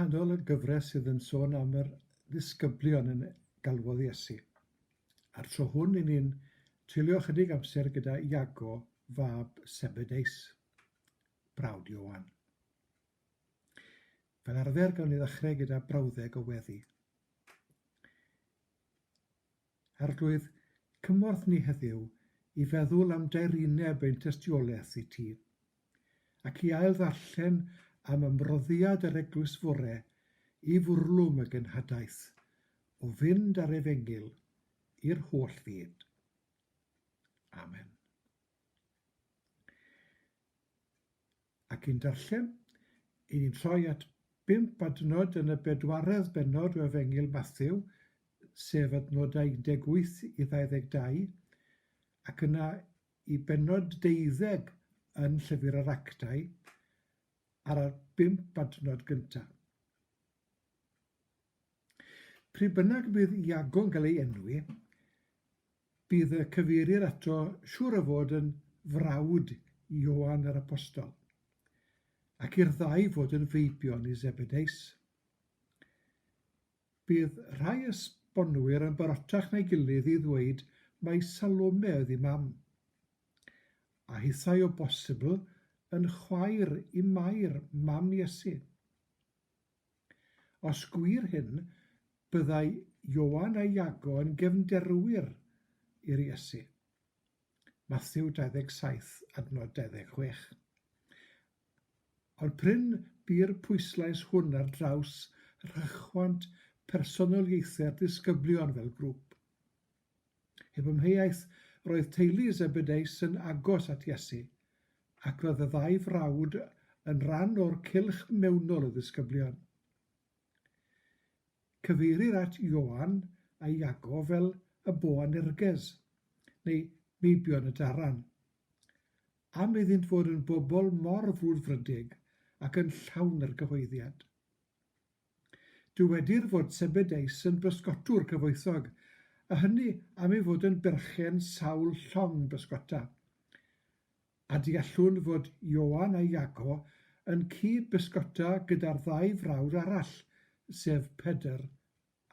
nghanol y gyfres sydd yn sôn am yr ddisgyblion yn galwodd Iesu. A'r tro hwn i ni'n treulio chydig amser gyda Iago, fab Sebedeus, brawd Iowan. Fel arfer gawn ni ddechrau gyda brawddeg o weddi. Arglwydd, cymorth ni heddiw i feddwl am daerineb ein tystiolaeth i Ti, ac i ail-ddarllen am ymroddiad yr Eglwys fore i fwrlwm y genhadaeth o fynd â'r Efengyl i'r holl fyd. Amen. Ac yn darllen, i ni'n troi at bump adnod yn y bedwaredd bennod o Efengyl Mathew, sef adnodau 18 i 22, ac yna i bennod deuddeg yn Llyfr yr Actau, ar y bump adnod gyntaf. Pryd bynnag y bydd Iago'n cael ei enwi, bydd y cyfeirir ato siŵr o fod yn frawd i Ioan yr Apostol, ac i'r ddau fod yn feibion i Zebedeus. Bydd rhai esbonwyr yn barotach na'i gilydd i ddweud mai Salome oedd ei mam, a hithau o bosibl yn chwaer i Mair, mam Iesu. Os gwir hyn, byddai Ioan a Iago yn gefnderwyr i'r Iesu. Mathew 27 adnod 26. Ond prin bu'r pwyslais hwn ar draws rhychwant personoliaethau'r disgyblion fel grŵp. Heb amheuaeth, roedd teulu Zebedeus yn agos at Iesu, ac roedd y ddau frawd yn rhan o'r cylch mewnol o ddisgyblion. Cyfeirir at Ioan a Iago fel y Boanerges, neu meibion y daran. Am iddynt fod yn bobl mor frwdfrydig ac yn llawn argyhoeddiad. Dywedir fod Zebedeus yn bysgotwr cyfoethog, a hynny am ei fod yn berchen sawl llong bysgota. A deallwn fod Ioan a Iago yn cyd-bysgota gyda'r ddau frawd arall, sef Pedr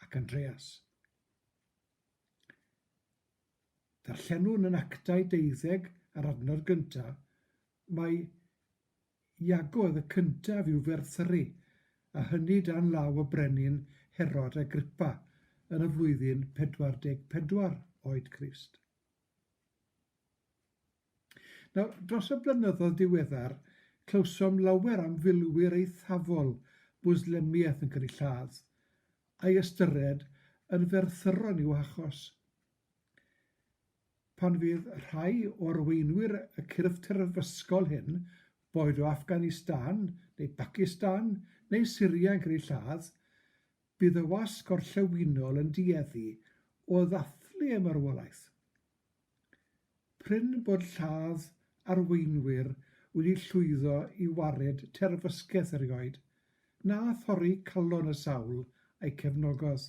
ac Andreas. Darllenwn yn Actau deuddeg a'r adnod gyntaf, mae Iago oedd y cyntaf i'w ferthru, a hynny dan law y brenin Herod Agrippa yn y flwyddyn 44 oed Crist. Nawr, dros y blynyddoedd diweddar, clywsom lawer am filwyr eithafol Mwslemiaeth yn cael eu lladd, a'i ystyried yn ferthyron i'w hachos. Pan fydd rhai o arweinwyr y cyrff terfysgol hyn, boed o Afghanistan neu Bacistan neu Syria yn cael eu lladd, bydd y wasg gorllewinol yn dueddu o ddathlu ei marwolaeth. Prin bod lladd arweinwyr wedi llwyddo i wared terfysgeth erioed, na thorri calon y sawl a'i cefnogodd.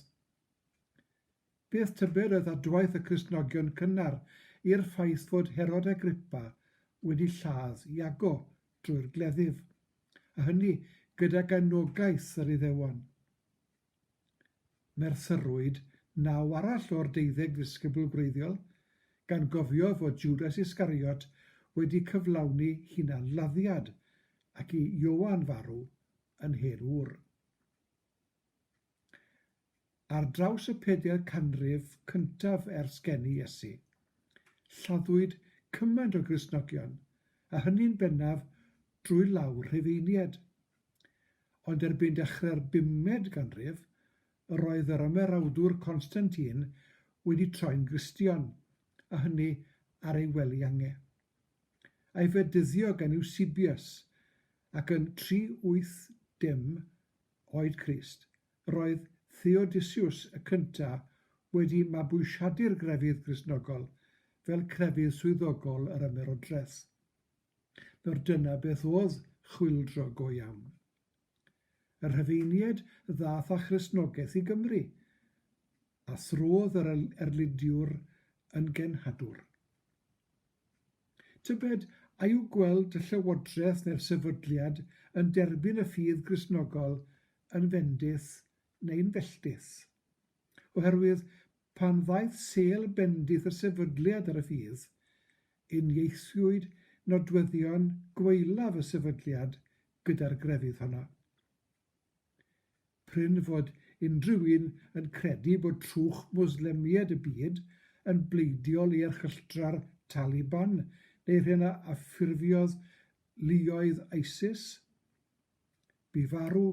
Bydd tybed oedd adwaith y Cristnogion cynnar i'r ffaith fod Herod Agrippa wedi lladd Iago drwy'r gleddyf, a hynny gydag anogaeth yr Iddewon? Merthyrwyd naw arall o'r deuddeg ddisgybl gwreiddiol, gan gofio fod Jwdas Iscariot wedi cyflawni hunan-laddiad ac i Ioan farw yn hen ŵr. Ar draws y pedair canrif cyntaf ers geni Iesu, lladdwyd cymaint o Gristnogion, a hynny'n bennaf drwy law Rhufeiniaid. Ond erbyn dechrau'r bumed ganrif, yr oedd yr ymerawdwr Constantine wedi troi'n Gristion, a hynny ar ei wely ange. A'i fedyddio gan Eusebius, ac yn 380 Oed Crist, Roedd Theodosius y Cyntaf wedi mabwysiadu'r grefydd Gristnogol fel crefydd swyddogol yr ymerodraeth. Nawr dyna beth oedd chwyldro go iawn. Y Rhufeiniaid ddaeth â Christnogaeth i Gymru, a throdd yr erlydiwr yn genhadwr. Tybed a yw gweld y llywodraeth neu'r sefydliad yn derbyn y ffydd Gristnogol yn fendith neu'n felltith, oherwydd pan ddaeth sêl bendith y sefydliad ar y ffydd, unieithiwyd nodweddion gwaelaf y sefydliad gyda'r grefydd honno. Prin fod unrhyw un yn credu bod trwch Mwslemiaid y byd yn bleidiol i erchylltra'r Taliban neu'r hyn a ffurfiodd luoedd ISIS, Bu farw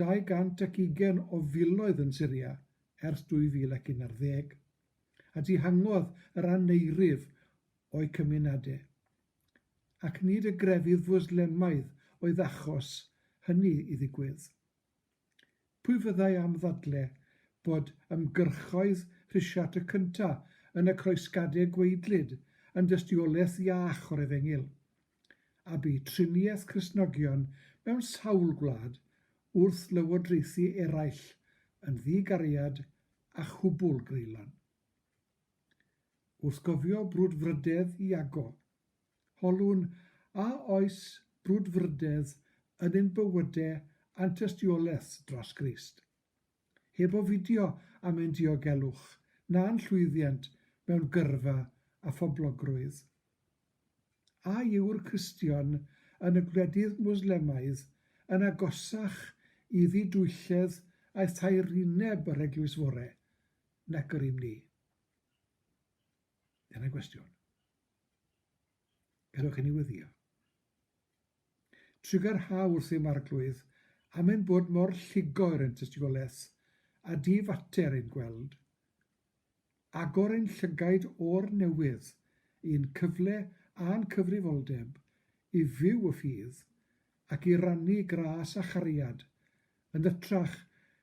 220 o filoedd yn Syria ers 2011, a dihangodd yr aneurydd o'u cymunedau, ac nid y grefydd Fwslemaidd oedd achos hynny i ddigwydd. Pwy fyddai am ddadle bod ymgyrchoedd Rhisiart y Cynta yn y Croesgadeg gwaedlyd yn dystiolaeth iach o'r efengyl, a bu triniaeth Cristnogion mewn sawl gwlad wrth lywodraethu eraill yn ddi-gariad a chwbwl greulon? Wrth gofio brwdfrydedd Iago, Holwn, a oes brwdfrydedd yn ein bywyde a'n tystiolaeth dros Grist? Heb ofidio am ein diogelwch, na'n llwyddiant mewn gyrfa a phoblogrwydd? A yw'r Cristion yn y gwledydd Mwslemaidd yn agosach i ddidwylledd a thaerineb yr Eglwys Fore nac yr ym ni? Dyna gwestiwn. Gadewch i ni wyddio. Trigger ha wrth ei marglwydd, am ein bod mor lligo er ein tystigolaeth, a di fater ein gweld. Agor ein llygaid o'r newydd i'n cyfle a'n cyfrifoldeb i fyw y ffydd ac i rannu gras a chariad, yn hytrach